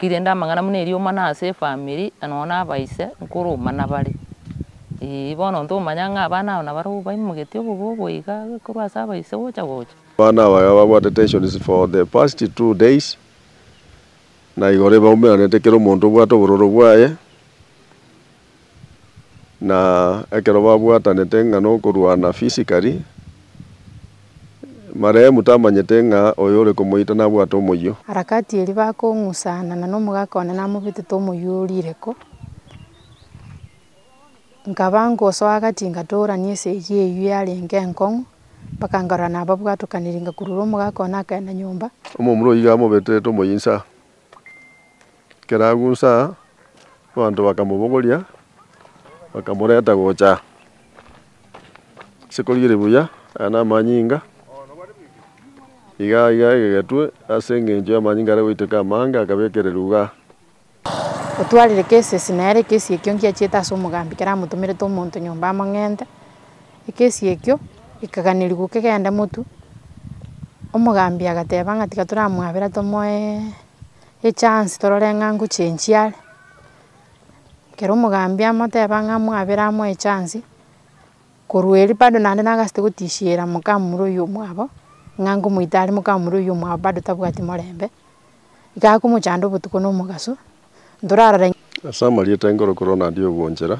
Rirende amang'ana buna erio omana ase efamiri, na nonya na abaise, nkoroma nabare. Eeh, bono intwe omanya ng'a abana abo nabare obaimogetie obobobo iga korwa ase abaise gocha gocha. Abana aba iga babwate tensions for the past two days, na igoro ebaumeranete kera omonto obwate obororo bwaye. na ekero babwatanete ng'a nokorwana physically, marehemu tamanyete ng'a oyo ore komoita nabwate omoyio. Harakati eria bakong'usana na nomogaka one namobetete omoyio o rireko, nkaba ngosoa gati ngatoorania esegi eyio yarenge enkong'u, mpaka nkarora nababwatokaniri ngakurura omogaka one akagenda nyomba. Omomura oyio iga amobetete omoyio insa, Ekero agusa aa, abanto bakamobogoria, bakamoreta gocha aa. Ase korigereria buya, aya namanyinga, iga iga egegetwe ase eng'encho y'amanyinga aria goiteka amange akabekererwa igaa. Otwarire kesesi, na ere ekesi ekio ngiachiete ase omogambi keramotomerete omonto nyomba among'ente. Ekesi ekio gekaganerigwa kegenda motu, omogambi agateba ng'a tiga toramwabera tomoe echance torore ng'a ngochenchia are, ekero omogambi amoteba ng'a mwabere amoe echance, korwa erio bado naende nagasete gotisiera mokamura oyio omwabo, ng'a ngomoita are mokamura oyio omwabo bado tabwati morembe, iga akomochanda obotuko na omogaso, ntorarora. Ase amarieta enkorokoro naria obwanchera.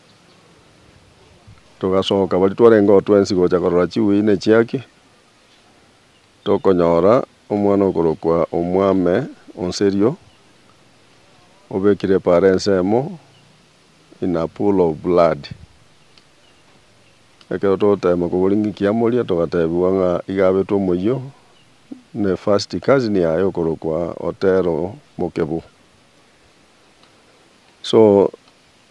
Togasoka baria twarenge oo twensi gocha korora chiwei ne chiaki, tokonyora omwana okorokwa omwame o Nserio, obekire epaara ensemo in a pool of blood. Ekero togotema koboria ng'aki kiamoria, togatebiwa ng'a iga abetwe omoyio ne first cousin yaye okorokwa Otero Mokebo. So.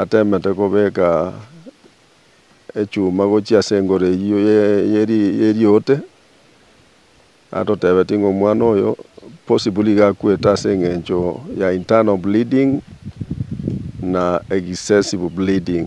atemete kobeka echuma gochia ase engoro eyio y'eriote, atotebetie ng'a omwana oyo possibly iga akwete ase eng'encho ya internal bleeding na excessive bleeding.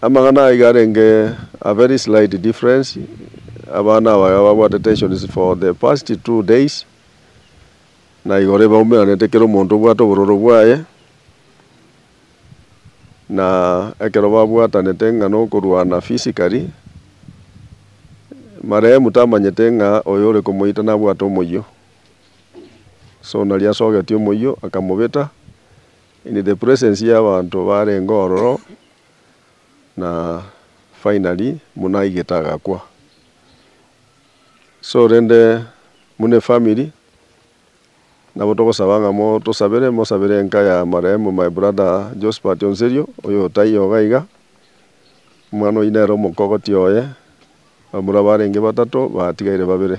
Amang'ana aya iga arenge a very slight difference, abana aba iga babwate tensions for the past two days, na igoro ebe baumeranete kera omonto obwate obororo bwaye, na ekero babwatanete ng'a nokorwana physically, marehemu tamanyete ng'a oyo ore komoita nabwate omoyio, so nari asogetie omoyio akamobeta, In the presence y'abanto barenge ororo, na finally buna aigete agakwa. So rende buna efamily nabo togosaba ng'a motosabere, mosabere enka ya marehemu my brother Josphat Onserio oyo taiyo iga iga, omwana oyio nere omokogoti oye, abamura barenge batato batigaire babere.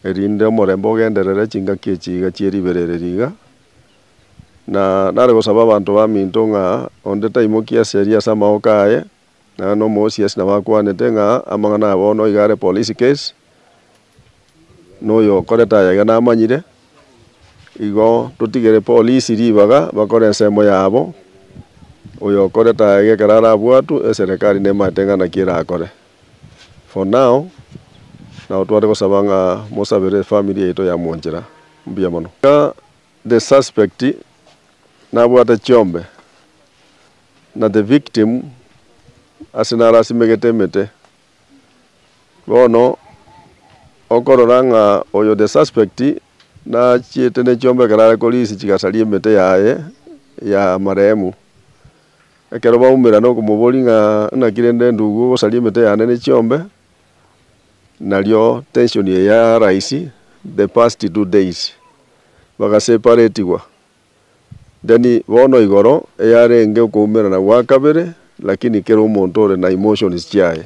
erinde omorembe ogenderere chingaki echi iga chie ribeera ere riga, na nare gosaba abanto baminto ng'a onde taimoki ase eria ase amaoka aye, naende nomosiasi nabo akwanete ng'a amang'ana aya bono iga are police case, na oyo okorete aya iga namanyire, igo totigere polisi ribaga bakore ensemo yabo, oyo okorete aya iga ekero arabwatwe eserekari nemaete ng'a naki erakore. For now nao tware gosaba ng'a mosabere efamiri yaito ya mwanchera mbuya mono. Iga the suspect nabwate chiombe na the victim ase narasimegete emete. Bono okorora ng'a oyo the suspect nachiete nechiombe ekero are korisia chigasari emete yaye ya marehemu. Ekero baumerana okomoboria ng'a naki rende ndugu ogosaria emete yane ne chiombe, nario tension eye ya rise the past two days, bagaseparatigwa, then bono igoro eyarenge okoumerana gwa kabere lakini kera omonto ore na emotions chiaye.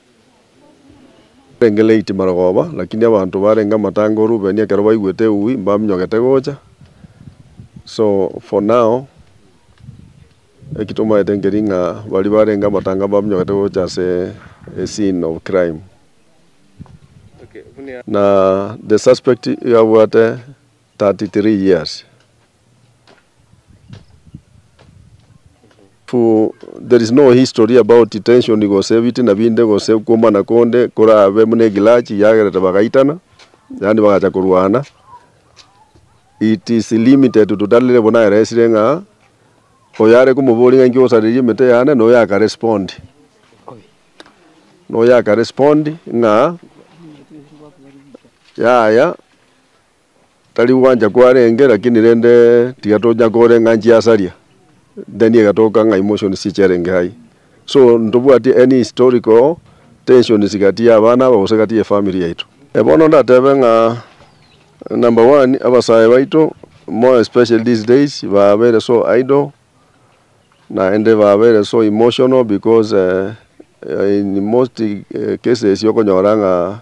Arenge late marogoba, lakini abanto barenge amatanga o Rubeni ekero baigwete eui mbaminyogete gocha, so for now eki tomaete nkeri ng'a baria barenge amatanga mbaminyogete gocha ase e scene of crime. Na the suspect iga abwate 33 years. There is no history about tension gose ebitina binde gose okwomana konde korabe buna egrudge yagerete bagaitana yaani bagacha korwana it is limited to that level naeresire ng'a oyare komoboria ng'a inki osareria emete yane na oyo aka respond na oyo aka respond ng'a yaya Tari gwancha kwarenge, lakini rende tiga tonya korenga nchi yasaria, then egatoka ng'a emotions chicherenge hai. So ntobwati any historical tensions gati ya abana aba gose gati ye family yaito. Bono ndatebe ng'a number one, abasae baito more especially these days babeire so idle, naende babeire so emotional because in most cases okonyora ng'a.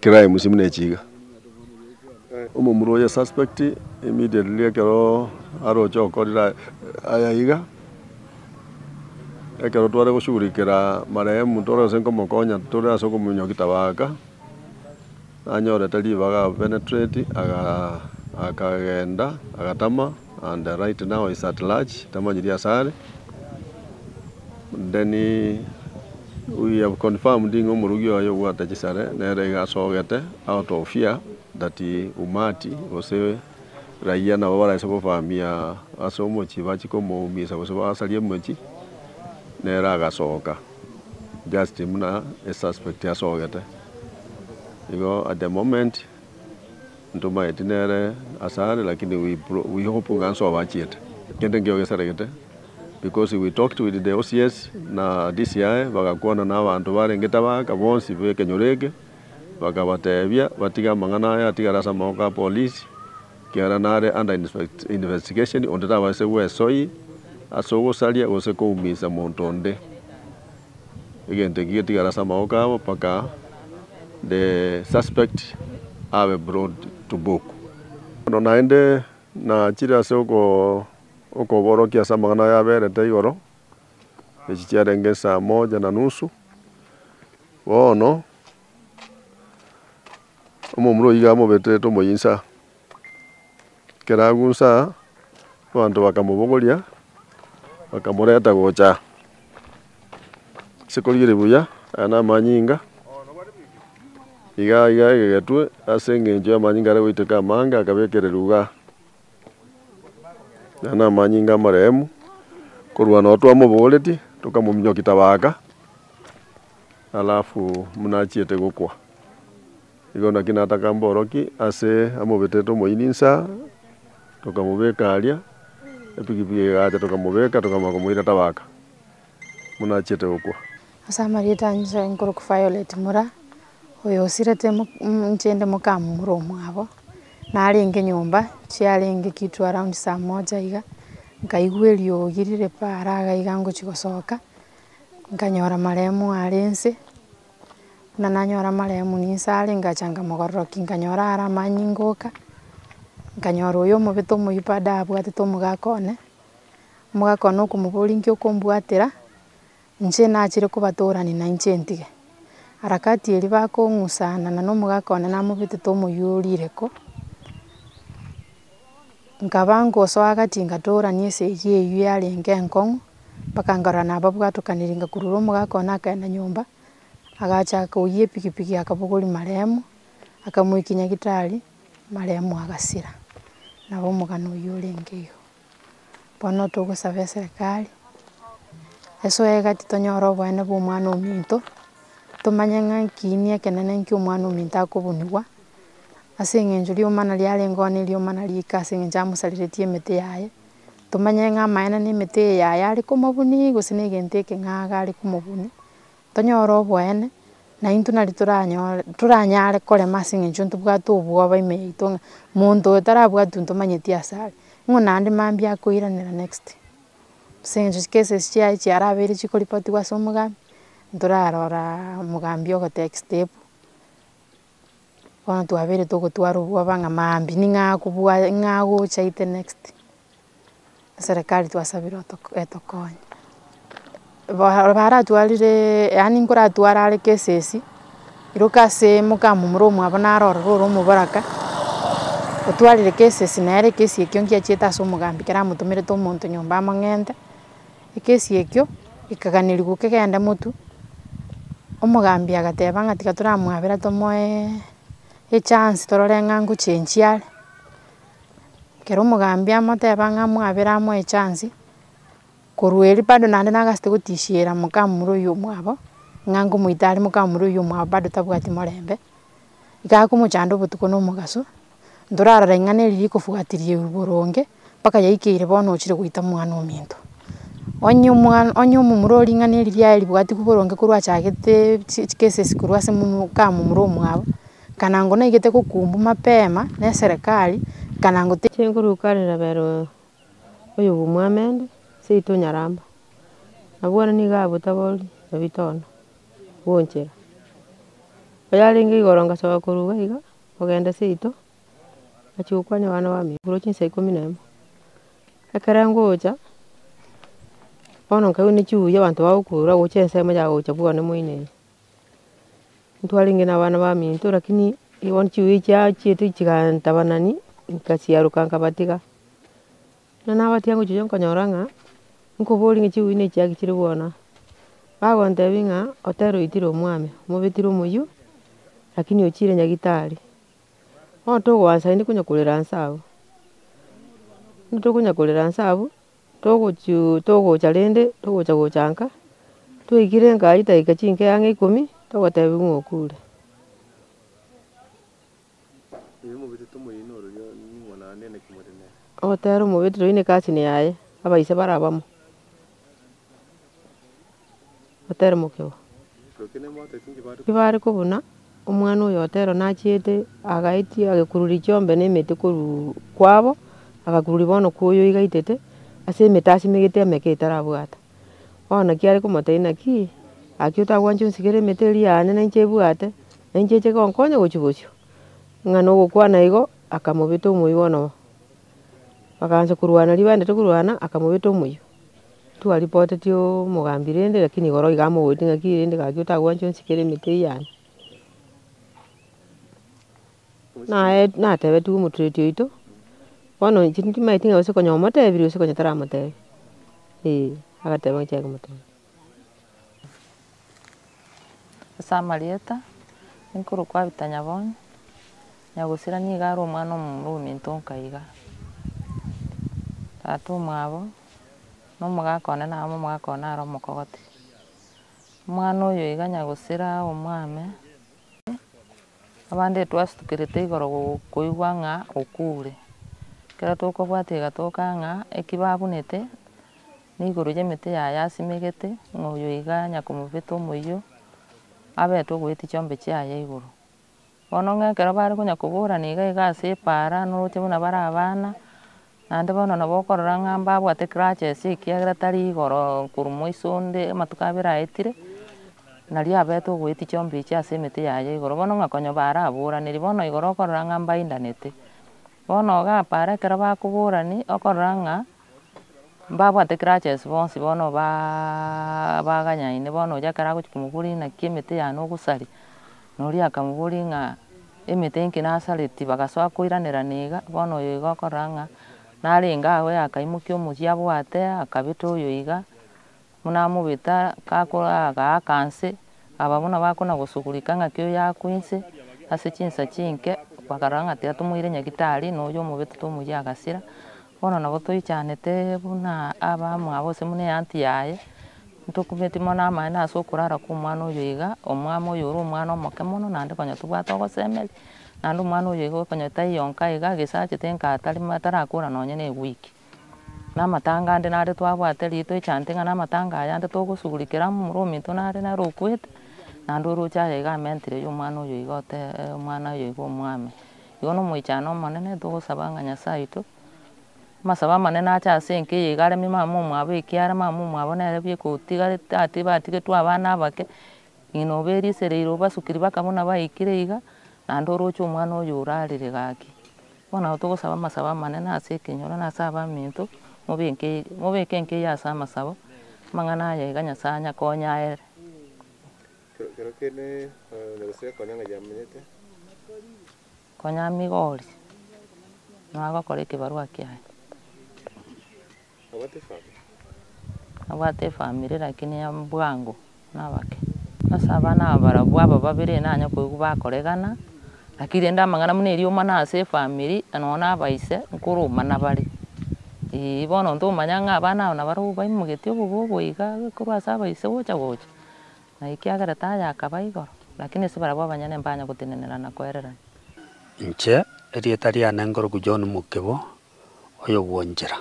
Kera emusi buna echi iga, omomura oye suspect immediately ekero aroche gokorera aya iga, ekero tware goshugurikera marehemu tore gose nkomokonya tore ase okomominyokia kitabaaka, nanyorete ribaga apenetrate agakagenda agatama. And right now is at large tamanyiri asare then we have confirmed ng'a omorogi oye obwate chisare nere iga asogete out of fear that umati gose raiya nabo baraise gofamia ase omochie bachie komoumisa gose basarie omochie nere agasoka just buna esuspect asogete igo at the moment. Ntomaeti nere asare lakini we we hope ng'a nsoa obachiete kende nkio gesaregete because we talked with the OCS na DCI bagakwana na abanto barengete abagaka bonsi b'ekenyoro eke bakabatebia batige amang'ana aya atigare ase amaboko a police ekiagera nare under investigation onde tabaise gwesoyi ase ogosaria gose koumisa monto onde. Egento eki getigare ase amaboko abo mpaka the suspect abe brought to book. Bono naende nachire ase okoborokia ase amang'ana ayaberete igoro, echi chiarenge esaa moja na nusu. Bono omomura oyiga amobeterete omoyinsa. Keragunsa abanto bakamobogoria, bakamoreta gocha ase korigereria buya. Aya namanyinga iga iga egegetwe ase engencho y'amanyinga are goiteka amange akabekererwa igaa. Aya namanyinga amarehemu korwa noo twamobogoretie tokamominyoki tabaka alafu buna achiete gokwa. Igo naki nataka mboroki ase amobetete omoyio ninsa, tokamobeka aria, epigipigi egacha tokamobeka tokamanya komoira tabaka buna achiete gokwa. Ase amarieta anyiso enkorokwa Violet Mura, oyo osirete inche inde mokamomura omwabo, narenge nyomba chiarenge kitu around saa moja iga, nkaigwa eriogi rire paara iga ngochia gosoka, nkanyora maremu are nse. Buna nanyora amarehemu ninse are ngacha nkamogororoki nkanyora are amanyinga ngoka, nkanyora oyo omobete omoyio bado abwatete omogaka one, omogaka one okomoboria nki okombwatera, inche nachire kobatorani na inche ntige. Harakati eria bakong'usana na omogaka one namobetete omoyio orire ko. Nkaba ngosoa gati ngatoorania esegi eyio yarenge enkong'u, mpaka nkarora nababwatokaniri ngakurura omogaka one akaenda nyomba, agachaka koyia epikipiki akabogoria maremu, akamoikia nyagetari, maremu agasira, nabo omogano oyio orenge igo. Bono togosaba eserekari, esoe gati tonyore oboene bwa omwana ominto, tomanye ng'a kiini ekenene ekio omwana ominto akobunigwa. Ase eng'encho rioma nari arengeo ne rioma nari ika ase eng'encho amosareretie emete yaye, tomanye ng'a amaene na emete eye yaye are komobunia gose na egento eke ng'ake are komobunia, tonyore oboene, na intwe nari toranyore toranyare korema ase eng'encho ntobwate obwoba ime yaito ng'a monto oyo tarabwati intwe tomanyeti ase are, nigo naende mambia akoiranera next. Ase eng'encho cases chiaye chiarabeire chikoripotigwa ase omogambi, ntoraroraa omogambi ogotake step. Bono twabere togotwara obwoba ng'a maambia ning'o akobwa ning'o agochaite next, eserekari twasabire otogo etokonye. Bora baratwarire yaani nkoratware are cases, iroka ase omokama omorwa omwabo naro ororo ore omoboraka, otwarire cases nere case ekio nkiachiete ase omogambi kere amotomerete omonto nyomba amang'ente. Ekesi ekio gekaganerigwa kegenda motu, omogambi agateba ng'a tiga toramwabera tomoe echance torore ng'a ngochenchia are, ekero omogambi amoteba ng'a mwabere amoe echance, korwa erio bado naende nagasete gotisiera mokamura oyio omwabo, ng'a ngomoita are mokamura oyio omwabo bado tabwati morembe. igakomochanda obotuko na omogaso, ntorara ring'ana eri rikofuatiria boronge mpaka yaikeire bono ochire goita mwana ominto. Onye omwana onye omomura oo ring'ana eri riaye ribuatigwe boronge korwa achagete chi chikeses korwa ase momo kamomura omwabo, kana naigete gokumbu mapema na eserekari kana ngote. oyobw'omwamende, seito onyaramba, na bono nigo abotaboria ebitono bw'onchera. Oyarenge igoro ngasoka koruga iga, ogenda seito, ngachia gokwania abana bamino korwa chinsa ikomi na emo. Ekero ngocha, bono nkaigwa ne chiuya abanto bagokurura gocha ensemo ya gocha bwane moino eye. Ntwarenge nabana baminto rakini bono chiwei chiachete chigantabanani nkasiaroka nkabatiga. Ekero nabatiga ngochia gochia nkanyora ng'a nkoborie ng'a chiwei ne echiake chire bono aa. Bagontebia ng'a otera oitire omwame, omobetire omoyio, rakini ochire nyagitari. Bono togoansa naende konya korera nse abwo, tonya korera nse abwo. Togochuu togocha rende, togocha gochanka, twaikire enka aywo edagika chinke ang'e ikomi, togotebiwa ng'a okure. Ogotera omobetiri oyio neke asini yaye, abaise bare abamo. oteremokegwa. Tibare kobuna omwana oyo otero nachiete agaetia agekururia chiombe na emete korwa kwabo, agakururia bono kwa oyo oigaitete, ase emete asimegete emeke etarabwate. Bono naki are komotebia naki, gaki otagwancha onsigere emete eria yane na inche ebwate, na inche eche egonkonya gochia gochia. Ng'a na ogokwana igo, akamobeta omoyio bono. Bagaancha korwana ribaendete korwana, akamobeta omoyio. Twaripoteti omogambi rende lakini igoro iga amogoite ng'aki rende gaki otagwancha onsikere emete eyio yane. Naye natebetigwe omotureti oito, bono inche timanyeti ng'a gose konya omotebirie gose konya taramotebi, eh agateba ng'a chiake motebie. Ase amarieta, nikorokwa Abita Nyabonyi, Nyagusira nigo are omwana omomura ominto nka iga. Tata omwabo. na omogaka one naro omogaka one naro omokogoti. Omwana oyo iga nya gosira omwame, abande twasutukerete igoro go- koigwa ng'a okure, ekero tokobwati iga toka ng'a eki babunete neigoro y'emete yaye asimegete ng'a oyo iga nya komobeta omoyio, abete ogoetia chiombe chiaye igoro. Bono ng'a ekero bare konya koborana iga iga ase epaara noroche buna bare abana, naende bono nabo okorora ng'a mbabwate grudges ekiagera tari igoro korwa moiso onde amatuko abere aetire, naria abete ogoetia chiombe echi ase emete yaye igoro bono ng'a konya baraboraneria bono igoro okorora ng'a mbaindanete. Bono iga epaara ekero bakoborani okorora ng'a. Mbabwate grudges bonsi bono baa baganyaine bono oria ekero agochia komoboria naki emete yane ogosaria, na oria akamoboria ng'a emete enki nasareti bagasoa koiranerana iga, bono oyo iga okorora ng'a narenge agwo yakaimokia omochie abwate akabete oyo iga. Buna omobeta gakoraaga aaka inse, aba buna bakona gosugurika ng'aki oyo aakwa inse ase chinsa chinke, bakarora ng'a tiatomoire nyagitari, na oyio omobeta tomoyia agasira. Bono nabo toichanete buna abamwabo ase buna eanty yaye, ntokumeti mono amaene ase okorara kwa omwana oyo iga, omwamo oyo ore omwana omoke mono naende konya tobwate ogosemeri, naende omwana oyo iga okonya taiyo nka iga, gese achete nka atari, atarakora nonye ne ewiki. Namatanga ande nare twabwate riitwa echante ng'a namatanga aya ande togosugurikera amo omoro ominto nare nere okwete, naende oroche aye iga amentire yo omwana oyo iga otee omwana oyo iga omwame. Igo na omoichano omonene togosaba ng'a Nyasae oito, amasabo amanene ache ase enka eye iga aremie mama omwabo ekiara mama omwabo nere bieka otigarete ati batigetwe abana abake, ng'ina oberisereire obasukiri baka buna baikire iga, naende oroche omwana oyo orarire gaki. Bono nabo togosaba amasabo amanene ase ekenyoro na ase abaminto, mobeke, mobeke enkeiyo ase amasabo, amang'ana aya iga Nyasae anyakonya aere. Kero kende onyare gosaria konya ng'a yamenyete. Konya Migori, nagokora ekebarua kiaye. Abwate efamiri lakini ya bwango nabake. Ase abana aba barabwo aba babere enanya koigwa bakoregana, lakini rende amang'ana buna erioma na ase efamiri nonya na abaise nkoroma nabare. Eeh bono ntomanya ng'a abana aba nabarobwo baimogetie obobe obo iga korwa ase abaise gocha gocha, na ekiagera taya akaba igoro, lakini ase barabwo abanyene mbanya gotenenera na koererana. Inche, erieta riane nkorokwa John Mokebo, oyogwonchera.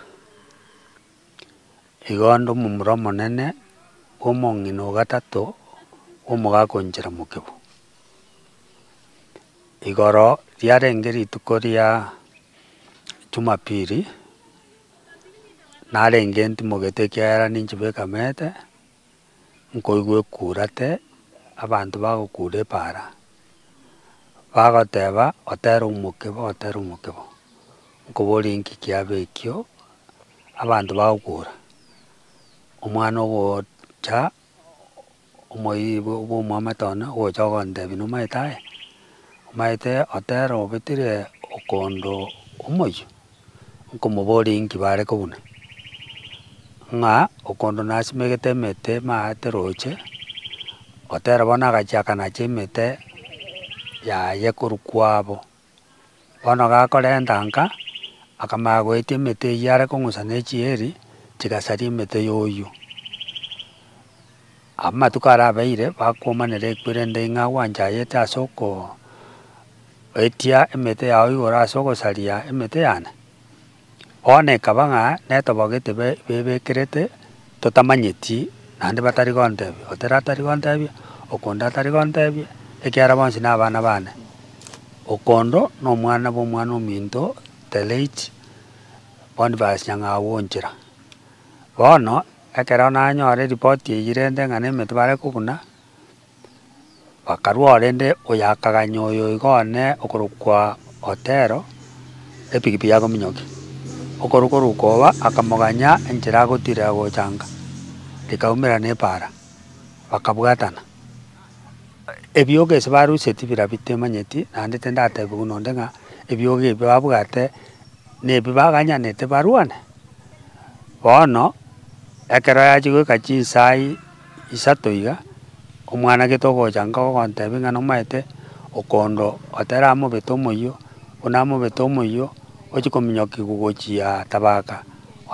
Igo ande omomura omonene bw'omong'ina o gatato bw'omogaka o nchera mokebo. Igoro riarenge rituko ria Jumapili, narenge ntimogete ekiagera ninche bwekamete. nkoigwa ekurate, abanto bagokura epaara, bagoteba otere omokebo otere omokebo, nkoborie nki kiabe ekio, abanto bagokura, omwana ogocha omoibo bw'omwamate one ogocha ogontebia nomaete aye, omaete otere obetire okondo omoyio. nkomoboria inki bare kobuna, ng'a okondo nasimegete emete maate roche, otera bono agachiaka nache emete yaye korwa kwabo. Bono gakorenta nka, akamanya goetia emete eyio are kong'usa ne echieri, chigasaria emete ya oyio. Amatuko arabeire bakomanera ekwerende ng'a gwanchayete ase okoetia emete yao igoro ase ogosaria emete yane? Bono ekaba ng'a netobogo etebe bebekerete totamanyeti naende batari gontebia, otera atari gontebia, okonde atari gontebia, ekiagera bonsi nabana bane. Okondo nomwana bw'omwana ominto Teleitch, Bonifasi Nyang'au o Nchera. Bono. Ekero nanyora eripoti eyio rende ng'a nemetwe bare kobuna, bakarwa oo rende oyo akaganya oyo iga one okorokwa Otero, epikipiki ya kominyokia. Okoruka oruka oba akamoganya enchera agotirera gochanga, rikaumera nepaara, bakabwatana. Ebiogo ase baruseti bira bitemanyeti, naende tindatebi buna onde ng'a ebiogo ebio babwate. Nebi baganyanete barwane? Bono ekero yachia goika chinsa isato iga, omwana gete ogocha nkogontebia ng'a nomaete okondo otera amobete omoyio, buna amobete omoyio, ochia kominyokigwa gochia tabaka,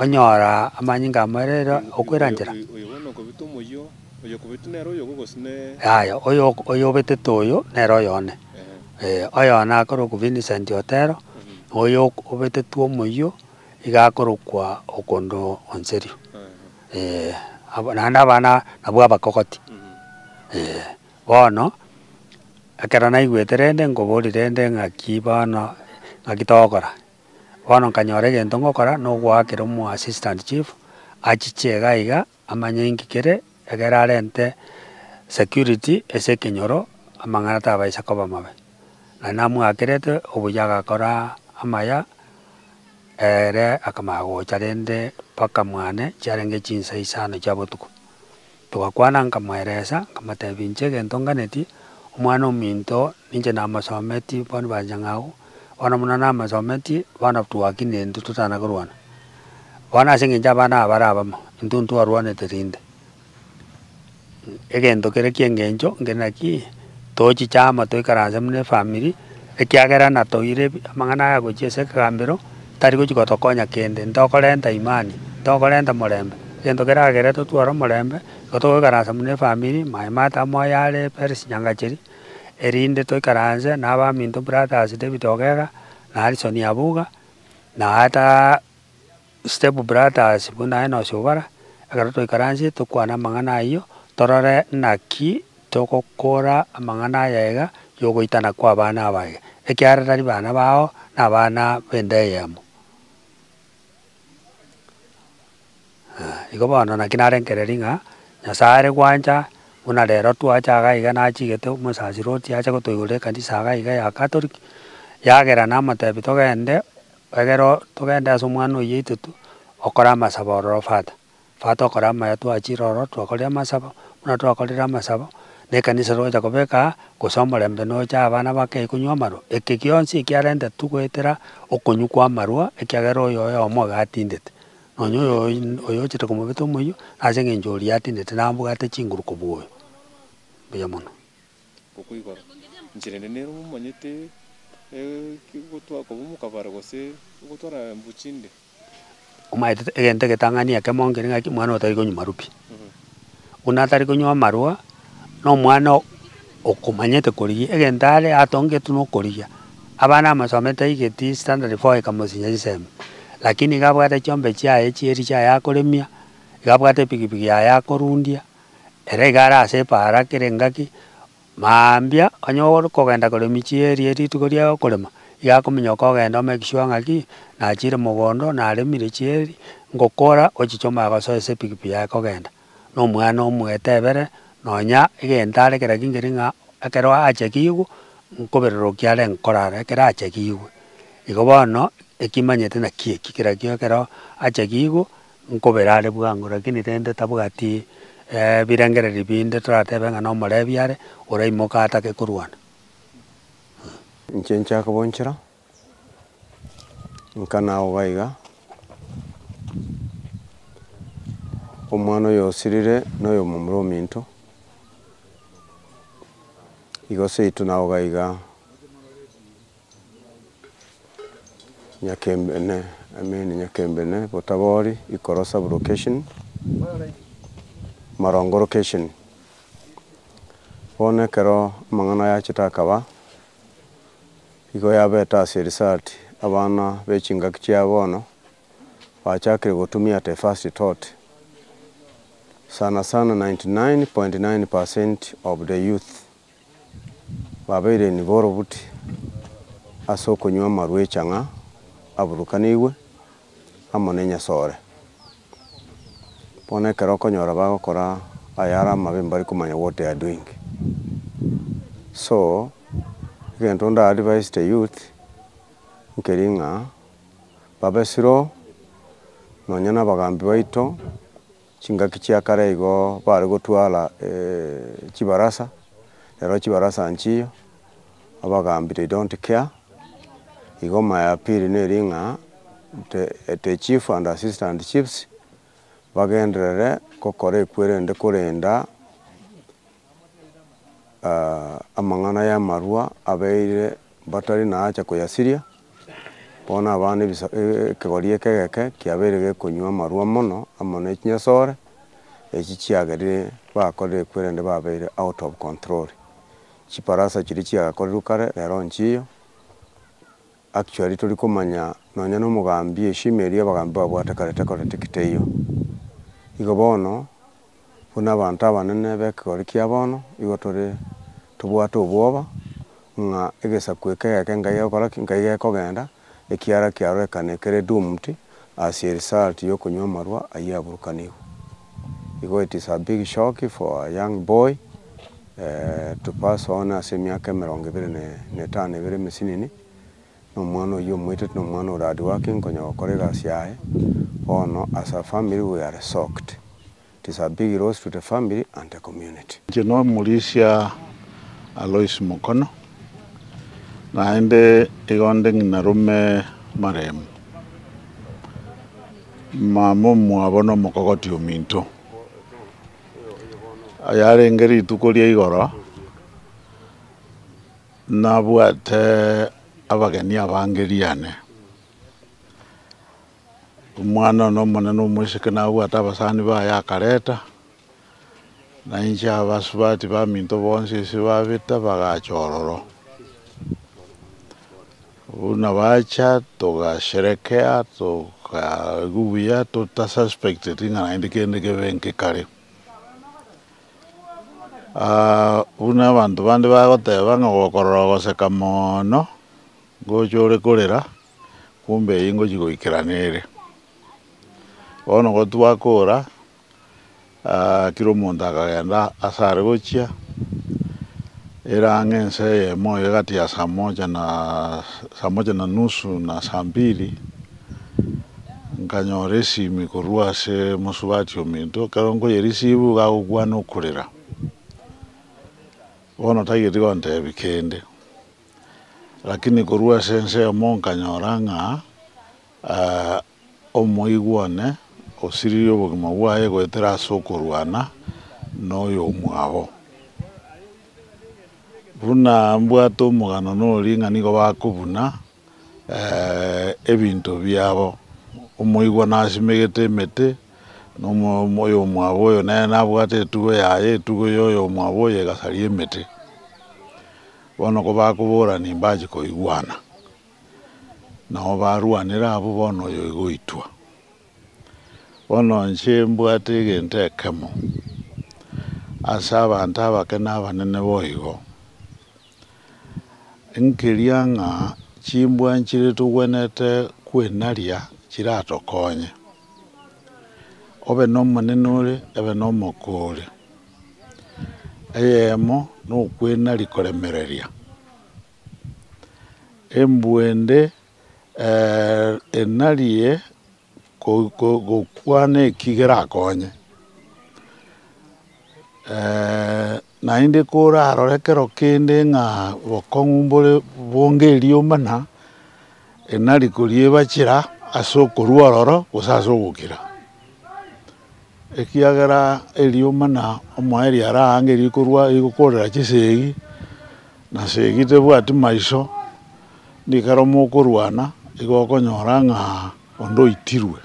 onyoraa amanyinga amarere okoiranchere. Oyokobeti nere oyogo gose ne. Yaya, oyobetete oyo nere oyone. Ee, oyone akorokwa Vincent Otero, na oyo obetetwe omoyio iga akorokwa Okondo Onserio. Ee, abo naende abana nabwo abakogoti. Ee, bono, ekero naigwete rende nkobori rende ng'aki bono ng'aki togokora. Bono nkanyora egento ngokora na ogoakera omo assistant chief achiche iga iga. Amanye inki kere, ekiagera arente security ase ekenyoro, amang'ana tabaisa koba amabe. Na namwakerete obuya agakora amaya, ere akamanya gocha rende mpaka mwane chiarenge chinsa isano chia botuko. Togakwana nkamweresa, nkamotebia inche egento nganeti, omwana ominto ninche namosometi bono bwanchang'au, Bono buna namasometie, bono twaki nintwe totana korwana. Bono ase engencho abana aba bare abamo, intwe ntwarwanete rinde. Egento kere ki'engencho nkere naki, tochi chiama toikaranse buna efamiri, ekiagera natoire amang'ana aya gochia ase ekegambero, tari gochi gotokonya kende, ntokorenta imani, ntokorenta morembe. Egento kere agere totware omorembe, igo togoikaransa buna efamiri, maye mata amo oyare eperis, nyangacheria. erinde toikaranse nabaminto Brothers David Ogega na Harrison Nyabuga, na ata Step Brothers buna Enos Obara, ekero twaikaransie tokwane amang'ana ayio, torore naki togokora amang'ana ayaiga y'ogoitana kw'abana abaye, ekiagera tari bana bao, nabana b'ende eyemo. Igo bono naki narengereria ng'a Nyasae are gwancha buna rero twacha iga iga nachigete omosasiro otiga ache gotoigorera ekanisa iga iga ya Catholic, yagera namotebi togende egere oo togende ase omwana oyio oito tu okore amasabo ororo fata. Ekero twakora amaya twachire ororo twakorire amasabo, buna twakorire amasabo, na ekanisa togocha kobeka aa, gose omorembe nocha abana bakei konywa amarwa, eke gionsi ekiarentetwe goetera okonywa kwa amarwa, ekiagera oyo oyomo iga atindete, nonya oyo oyo ochete komobeta omoyio, ase eng'encho oria atindete nabo mbwate chinguru kobua oyo, mbuya mono. Okwo igoro, inche rende nere momanyete, ekegotwa kobomoka bare gose gotwara mbu chinde. omaete egento egetang'ani ekemo nkere ng'aki omwana oyo tari konywa marwa pi. Buna atari konywa amarwa, na omwana oo okomanyete korigia, egento are atongetwe na okorigia. Abana amasomo etaigeti standard four ekamosinyia chisemi, lakini iga abwate chiombe chiaye chia eria chiaye akoremia, iga abwate epikipiki yaye akorundia, ere iga ara ase epaara kere ngaki. Mambia onye okogenda kore emechie eria rituko ria okorema, iga akominyoka ogenda ome egeswa ng'a ki, nachire mogondo, naremire chieri, ngokora ochichoma agosoe ase epikipiki yaye kogenda, na omwana omwetebere nonya egento are kera kingeri ng'a ekero achekigwe, nkoberorokia are nkorara ekero achekigwe. Igo bono, ekimanyete naki eki, kera kio ekero achekigwe. Nkobere are bwango, lakini rende tabwati ebirengererio binde, toratebe ng'a nomorebi are, oraimoka atake korwana. Inche nchake bonchera, inka nagoga iga, omwana oyo osirire noyomomura ominto, igo seito nagoga iga. Nyakembene, I mean Nyakembene, Botabori, Ikoro sub-location, Marongo location. Bono ekero amang'ana aya achete akaba, igo yabeta ase research abana bechingaki chia bono bachakire gotumia at a first thought. Sana sana 99.9% of the youth Babeire nigo orobuti ase okonywa amaruecha ng'a aburukanigwe amo nenyasore. Bono ekero okonyora bagokora ayare amabe mbari komanya what they are doing. So egento nda advise the youth nkeri ng'a babe slow nonya nabagambi baito. Chingaki chia kare igo bare gotwara chibarasa, ero chibarasa nchiyo abagaambi they don't care. Igo maya ya piri neri ng'a the chief and assistant chiefs bagenderere gokora ekwerende korenda amang'ana y'amarua abeire mbatari naacha koyasiria, bono abana ebisa ekegori eke egeke kiabeire gekonywa amarua mono amo ne chinyasore echi chiagerire bakorire ekwerende babeire out of control. Chiparasa chiria chiagakorirwe kare rero nchiyo. Actually tori komanya nonya na omogambi eshima eria abagambi babwate kare tekoretik teiyo. Igo bono buna abanto abanene bekegori kia bono igo tore tobwate obwoba ng'a egesaku eke egeke Ngai agokora ki? Ngai gekogenda ekiara kiarorekane kere doomed ase erisaalti y'okonywa amarwa ayio aburukanigwe. Igo it is a big shock for a young boy to pass on ase emiaka emerongo ebere na etano ebere emesinini, na omwana oyio omoiteti na omwana ore hardworking konya gokora egasi yaye, bono as a family we are socked. It is a big loss to the family and the community. Inche nomorisia Alois Mukono, naende igonde ng'ina rome maremu, mama omwabo nomokogoti ominto. Yarenge rituko ria igoro nabwate abageni abange riane. Omwana one omonene omoiseke nabwate abasani baye akareta, na inche abasubati baminto bonsi ase babeta bagacha ororo. Buna bacha togasherekea tokaigwa buya tota suspecteti ng'a naende kende kebe nkekare. Buna abanto bande bagoteba ng'a ogokorora ogoseka mono. Ngocha ore korera, kumbe eyio ngochia goikera nere. Bono gotwakora, kera omonto akagenda ase are gochia, ere ang'e ense eyemo iga egati ya saa moja na saa moja na nusu na saa mbili, nkanyora esimi korwa ase mosubati ominto, ekero nkoyereceive iga agokwana okorera, bono tageti gontebi kende. Lakini korwa ase ensemo nkanyora ng'a omoigwa one osiririe obogima bwaye goetera ase okorwana noyomwabo. Buna mbwate omogano noria ng'a nigo bakobuna ebinto biabo, omoigwa nasimegete emete, oyomwabo oyo nere nabwate etugo yaye, etugo ya oyomwabo oyo egasaria emete. Bono kobakobora nimbache koigwana, nao barwanere abwo bono oyo igoitwa. Bono inche mbwate egento ekemo ase abanto abake na abanene boigo, nkeria ng'a chimbwa nchire togwenerete kwenaria chiratokonye, obe nomonene ore, ebe nomoko ore. Eyemo nokwenari koremereria, embwende enarie gokwana eki gerakonye, naende korarore kero kende ng'a obokong'u mbore bonge erioma na enari koriebachera ase okorwa ororo gose ase ogokira. ekiagera erioma na omoerio araangerie korwa gokorera chisegi, na segi tebwati maiso, nigo ekero mokorwana igo okonyora ng'a onde oitirwe.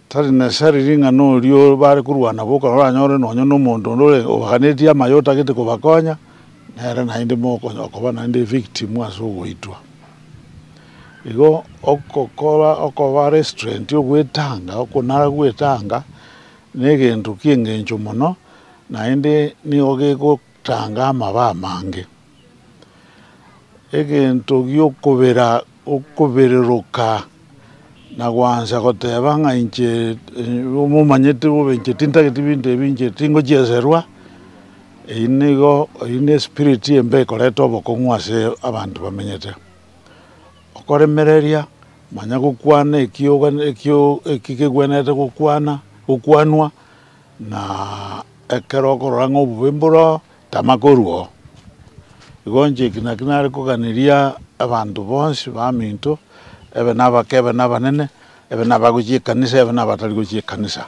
Tari necessary ring'ana oria bare korwana nabo okonyora oranyore nonye na omonto onde ore obaganetie amayo otagete kobakonya, nere naende mokoba naende victim ase ogoitwa. Igo ogokora okoba restraint, ogwetanga, okonara gwetanga negento ki'engencho mono, naende nigo gegotanga amabaa amange. Egento gi'okobera, okobereroka na gwancha goteba ng'a inche momanyete bobe inche tintageti binto ebi, inche tingochieserwa, eyio nigo, eyio nespirit embe ekoreta obokong'u ase abanto bamenyete. okoremereria manya gokwana eki kegwenerete gokwanwa, na ekero okorora ng'a obobe mboro oo, tama korwa oo. Igo inche eki nakio nare koganeria abanto bonsi baminto, ebe nabake ebe nabanene, ebe nabagochia ekanisa ebe nabatari gochia ekanisa,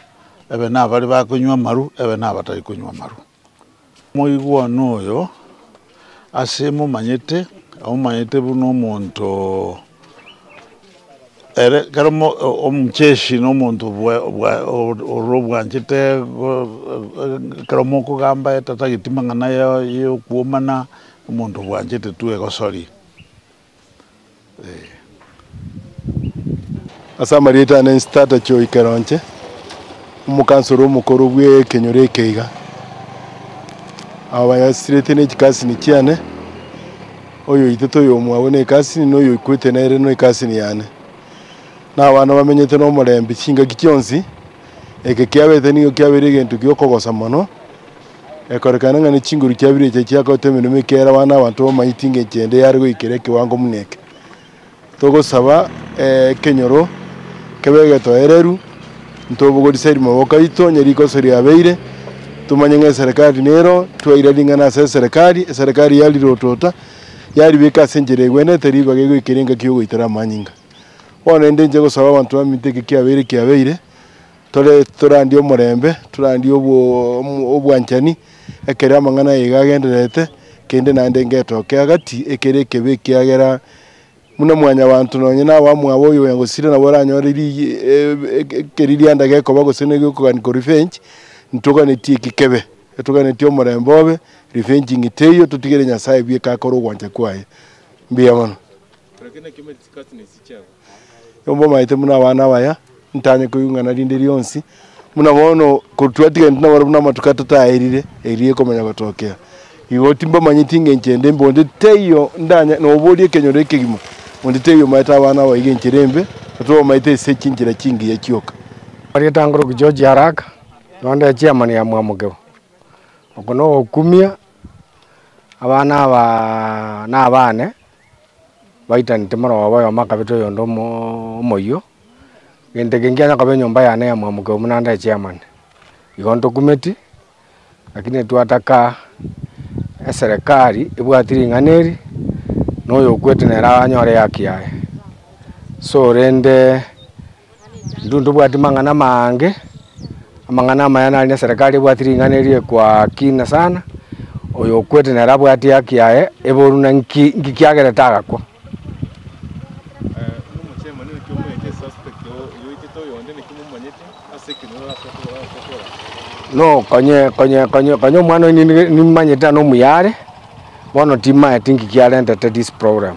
ebe nabare bakonywa amaru ebe nabatari konywa amaru. Moigwanu oyo ase momanyete, omomanyete buna omonto ere, ekero omocheshi na omonto ore obwanchete ekero mokogamba etatagetie mang'ana y'okwomana, omonto obwanchete tu egosori. Ase amarieta ane inse tata kioika roche omokansoro omokoro bw'ekenyoro eke iga. Aba banyasirete ne chikasini chiane, oyoitete oyomo abwo ne ekasini na oyoikwete nere no ekasini yane. Na abana bamenyete no omorembe chingaki chionsi, eke kiabete nigo kiabeire egento giokogosa mono Ekorekana ng'a ne chinguru chia Bibilia echiria chiakorete emeremo ekeera abana abanto bamanyeti inga enchera ende yare goikera ekewango buna eke. Togosaba ekenyoro kebe egetoereru, ntobogorise erimaboko aito onye rikoso riabeire, tomanye ng'a eserekari nero, twaira ring'ana ase eserekari, eserekari yarirotota, yaribeka ase enchera egwenete, ribaga egoikera engaki y'ogoitera amanyinga. Bono naende inche ngosaba abanto baminto eke kiabeire kiabeire, Tore torandie omorembe, torandie obwanchani, ekero amang'ana aye iga agendererete, kende naende ngetoke agati, ekere ekebe ekiagera buna mwanyabaanto nonye na abamwabo oyo oyogosira nabo oranyore ekeririanda gekoba gose na egeokoganika revenge, ntoganetie eki kebe, etoganetie omorembe obe, revenging teiyo, totigere Nyasae bweka akore ogwancha kwaye. Mbuya mono. Mbwamaete buna abana abaya, ntanye koigwa ing'ana rinde rionsi, buna bono ko- twatiganete naboro buna amatuko atato aerire, erio ekomanya gotokea. Igo timbamanyeti engencho ende mbe onde taiyo ndanya noboria ekenyoro ekegima, onde taiyo omaete abana abaige enchera embe, otwo bamaete ase chinchera chingiya chioka. Rietanguru George Haraka, onde echairman ya Mwamokeo. Oko nogokumia, abana aba nabane, Baitanete moroba oyomo akabeta oyonde omoyio, gento eke nkianya koba enyomba yane ya mwamokeo buna nde chairman. Igo ntokumeti, lakini twataka eserekari ebwati ring'ana eri, noyo okwete nere anyore ehaki yaye. So rende. Intwe ntobwati mang'ana amange, amang'ana amaya nari na eserekari ebwati ring'ana erio ekwa kina sana, oyo okwete nere abwati haki yaye eboru na nki nki kiagere tagakwa. No konye konye konye konye omwana oyo ninde nimanyete ano omuya are, bono timaeti nki kiarentete this problem.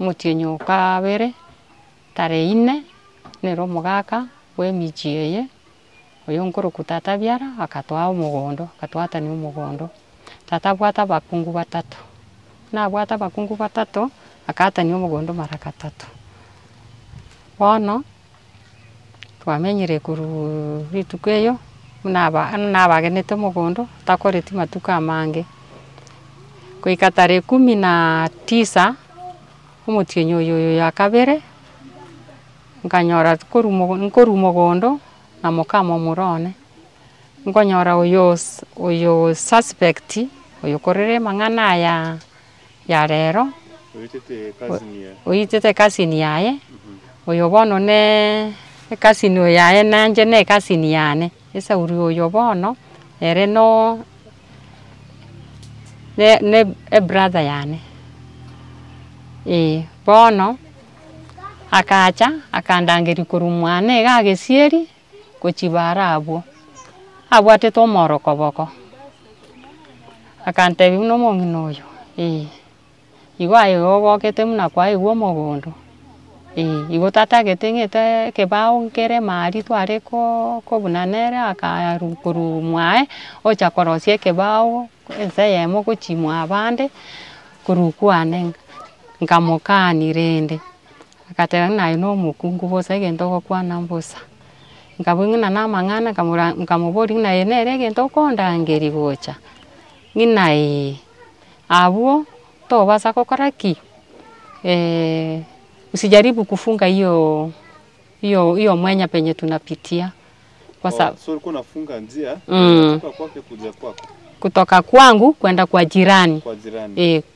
Omotienyi o kabere, tara eyine, nere omogaka bw'emechie eye, oyo nkorokwa tata biara, akatoa omogondo, akatoatania omogondo. Tata abwate abakungu batato, nabwate abakungu batato, akaatania omogondo mara gatato. Bono Twamenyire korwa rituko erio, buna nabagenete omogondo, takoreti matuko amange, goika tarehe kumi na tisa, omotienyi oyo ya kabere, nkanyora nkorwa omogondo na mokama omura one, nkonyora oyo osuspect, oyo okorire amang'ana aya. ya rero, oitete ekasini yaye, oyo bono ne ekasini oyo yaye nanje ne ekasini yane, esauri oyo bono ere no ne ebrother yane, eeh. Bono akacha akandangeria korwa mwane iga agesieri. gochibaara abwo, abwatete omworokoboko, akantebi buna omong'ina oyo, eeh igo aye igo ogokete buna kwaigwa omogondo, eeh igo tatagete ng'ete ekebao nkere ime aria tware koo kobuna nere akaru korwa mwaye, ocha korosia ekebao ense eyemo gochia mwa abande, korwa kwane, nkamokani rende. Agateba, Ng'a aye nomokungu bosa, egento ogokwana mbosa. Nkabua ng'ina namang'ana, nkamoboria, Ng'ina eye nere egento okondangeria gocha? Ng'ina ee. Abwo tobasa gokora ki? usijaribu kufunga hiyo hiyo mwanya penye tunapitia. Kutoka kwangu kwenda kwa jirani.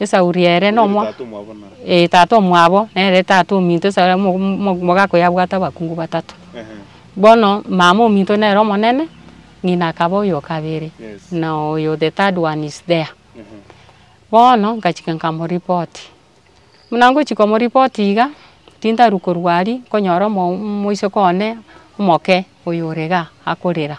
Esau ria ere nomo ee tata omwabo nere tata ominto Esau omo omo omogaka oyo abwate abakungu batato. Bono mama ominto nere omonene, ng'ina akaba oyo o kabere na oyo the third one is there. Bono nkachika nkamoripoti, buna ngochia komoripoti iga, tintarwa korwa aria nkonyora omo omoiseke one omoke oyo ore igaa akorera.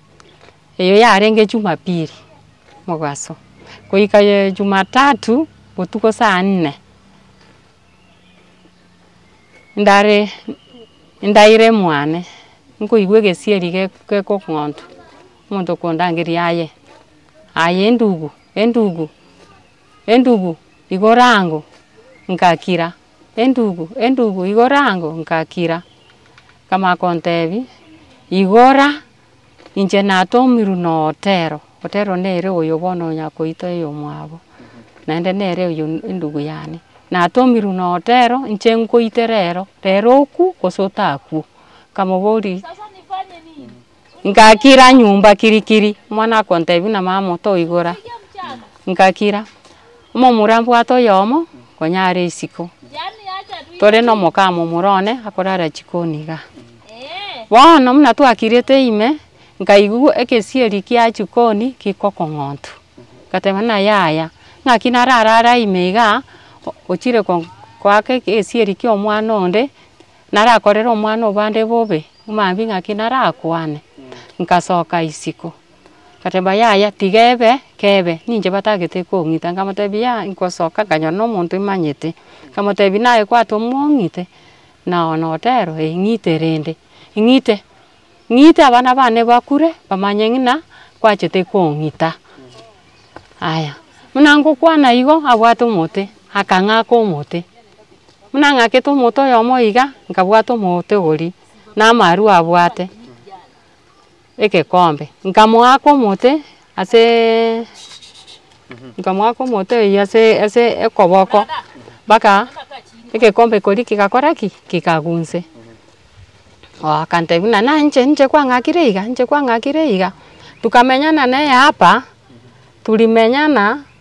Eyo yarenge Jumapili mogaso goika Jumatatu botuko saa nne, ndare ndaire mwane nkoigwa egesieri gekong'ontwa, omonto okondangeria aye aye endugu endugu endugu igora ango, ngakira Endugu, endugu igora ango ngakira. Nkamanya kontebia, igora inche natomirwe na Otero. Otero nere oyo bono onya koito eyomwabo. Naende nere oyo endugu yane. Natomirwe na Otero inche nkoite rero, rero okwo gose otakwo. Nkamoboria. Ngakira nyomba kirikiri, omwana akontebia buna mama otoigora, ngakira. Omomura mbwate oyomo konya are isiko, tore na omokama omoro one akorara chikoni iga. Bono buna twakirete ime, nkaigwa egesieri kia chikoni kigokong'otu, ngateba buna yaya, ng'aki nararara ime iga, ochire ko- koaka egesieri kia omwana onde, Narakorere omwana o bande bobe, omambia ng'aki narakwane. Nkasoka isiko, nkateeba yaya tiga ebe kebe, ninche batagete kong'ita. Nkamotebia yaya nkosoka nkanyora na omonto imanyete, nkamotebia naye kwate omong'ite, nao notero ee ng'ite rende, ng'ite. Ng'ita abana bane bakure, bamanye ng'ina kwachete kong'ita. Aya, buna ngokwana igo, abwate omote, akang'aka omote. Buna ang'akete omote oyomo iga, nkabwata omote ogoria na amarwa abwate egekombe, nkamoaka omote, Asee nkamoaka omote oyio ase ase ekoboko, mpaka egekombe ekori kegakora ki? Kegakora inse. Akantebi buna naye inche ninche kwang'akire iga ninche kwang'akire iga. Tukamenyana neye hapa, tulimenyana.